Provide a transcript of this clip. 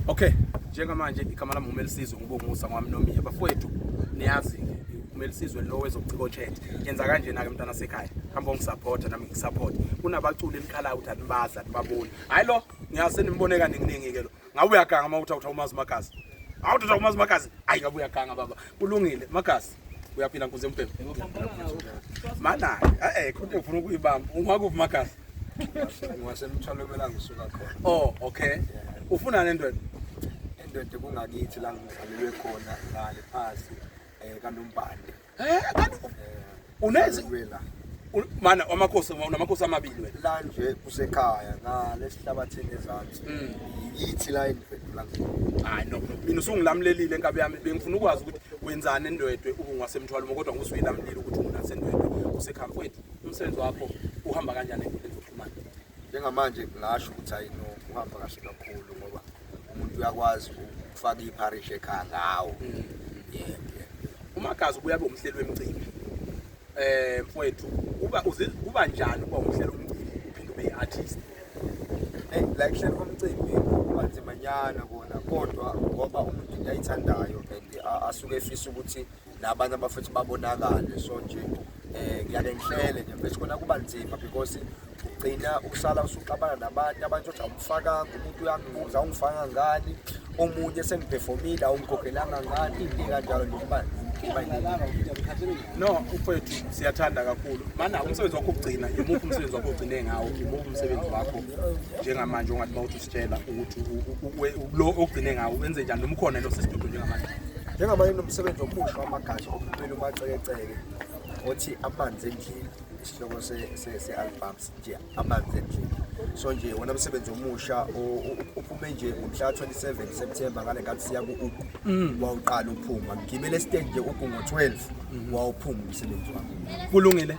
Okay, njengamanje igama lami uMelisizwe ngibongusa ngwami nomi abafowethu niyazi uMelisizwe lo wezobuciko chat yenza kanje nake mntana sekhaya hamba ungisupporta nami ngisupport kunabaculi enikhala ukuthi anibazi anibaboni hayi lo ngiyase nimbone kaningi ke lo ngabe uyaganga uma uthi awutha umazi magazi awuthi utha umazi magazi hayi ngabe uyaganga baba kulungile magazi uyaphila nkuze mpembe mana eh khona ufuna ukuyibamba ungakuphi magazi ngiwasemthwalo kumela ngisuka khona oh okay ufuna le ndoda indoda kungakithi la ngizalelwe khona ngale phasi um kanombande eh, eh, unezi mana amakhosi unamakhosi amabili wena la nje kusekhaya ngale sihlabathini ezansi mm. yithi la endiphendula hayi no mina usungilamlelile enkabi yami bengifuna ukwazi ukuthi wenzani endwedwe ubungwasemthwalo kodwa ngusuyila mlilo ukuthi unasendwedwe usekhaya mfowethu umsebenzi wakho uhamba kanjani enkundleni zokuxhumana njengamanje ngingasho ukuthi hayi no uhamba kahle kakhulu ngoba umuntu uyakwazi ukufaka ipharisha ekhaya ngawo mm. umagazi ubuya kube umhleli wemicimbi um mfowethu kuba njani ukuba umhleli womcimbi uphinde ube yi-artist eyi la kuhleli komcimbi kubanzimanyana kona kodwa ngoba umuntu into ayithandayo and asuke efisa ukuthi nabanye abafethu babonakale so nje um ngiyake ngihlele nje mfethu khona kuba nzima because ugcina ukusala usuxabana nabantu abantu othi awumfakanga umuntu uyangibuza awungifanga ngani omunye sengiphefomile awungikhokhelanga ngani into kanjalo nje kuba no mfethu siyathanda kakhulu mana umsebenzi wakho ukugcina yimuphi umsebenzi wakho ugcine ngawo yimuphi umsebenzi wakho njengamanje ongathi bawuthi tshela ukuthi lo ogcine ngawo wenze njani noma ukhona lo sesidudu njengamanje njengamanje nomsebenzi omusha wamagashi okuphela umacekeceke othi amanzi endlini isihloko se-album nje amanzi endlini so nje wona msebenzi omusha uphume nje ngomhla 27 September ngale ngathi siya ku-ugu mm. wawuqala uphuma ngigibele estage nje ugu ngo-12 mm-hmm. wawuphuma umsebenzi wami kulungile